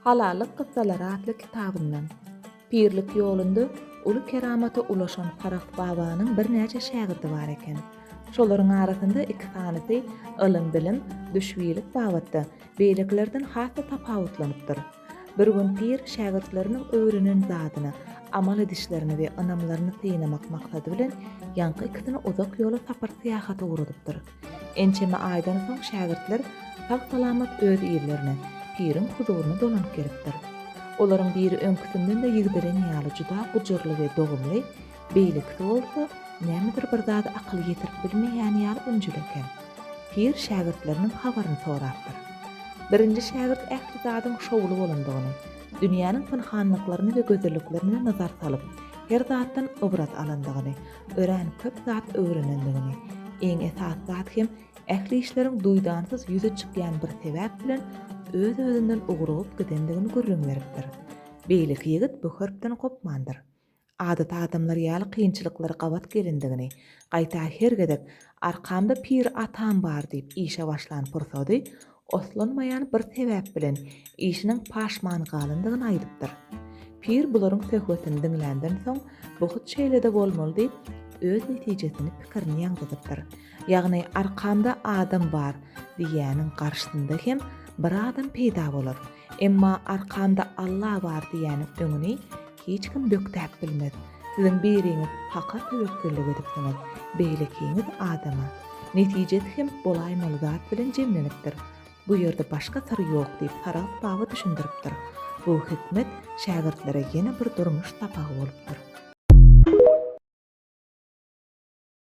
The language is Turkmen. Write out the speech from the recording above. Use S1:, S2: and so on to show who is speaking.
S1: Halallyk kyssalary atly kitabyndan. Pirlik ýolunda uly keramata ulaşan Farah babanyň birnäçe şägirdi bar eken. Şolaryň arasynda iki sanysy ylym-bilim, düşbilik babatda beýlekilerden has-da tapawutlanypdyr. Bir gün pir şägirtleriniň öwrenen zadyny, amal edişlerini we ynamlaryny synamak maksady bilen ýaňky ikisini uzak ýola sapar-syýahata ugradypdyr. Ençeme aýdan soň şägirtler sag-salamat öz ýerlerine, piriň huzuryna dolanyp gelipdir. Olaryň biri öňküsinden-de ýigdelen ýaly juda gujurly we dogumly, beýlekisi bolsa nämedir bir zady akyly ýetirip bilmeýän ýaly ünjüli eken. Pir şägirtleriniň habaryny sorapdyr. Birinji şägirt ähli zadyň şowly bolandygyny, dünýäniň pynhanlyklaryny we gözelliklerine nazar salyp, her zatdan ybrat alandygyny, örän köp zat öwrenendigini, iň esasy zat hem ähli işleriň duýdansyz ýüze çykýan bir sebäp bilen öz-özünden ugrugyp gidendigini gürrüň beripdir. Beýleki ýigit bu hörpden gopmandyr. Adaty adamlar ýaly kynçylyklary gabat gelendigini, gaýta her gezek Arkamda pir atam bar diýip işe başlan pursady Oslanmaýan bir sebäp bilen işiniň paşman galandygyny aýdypdyr. Pir bularyň söhbetini diňländen soň, Bu hut şeýle-de bolmaly diýip, öz netijesini, pikirini ýaňzydypdyr. Ýagny, Arkamda adam bar diýýäniň garşysynda hem bir adam peýda bolar. Emma Arkamda Alla bar diýýäniň öňüni Hiç kim bökdäp bilmez. Siziň biriňiz Haka töwekgellik edipsiňiz, beýlekiňiz adama. Netijesi hem bolaýmaly zat bilen jemlenipdir. Bu ýerde başga syr ýok diýip Saragt baba düşündiripdir. Bu hikmet şägirtlere ýene bir durmuş sapagy bolupdyr.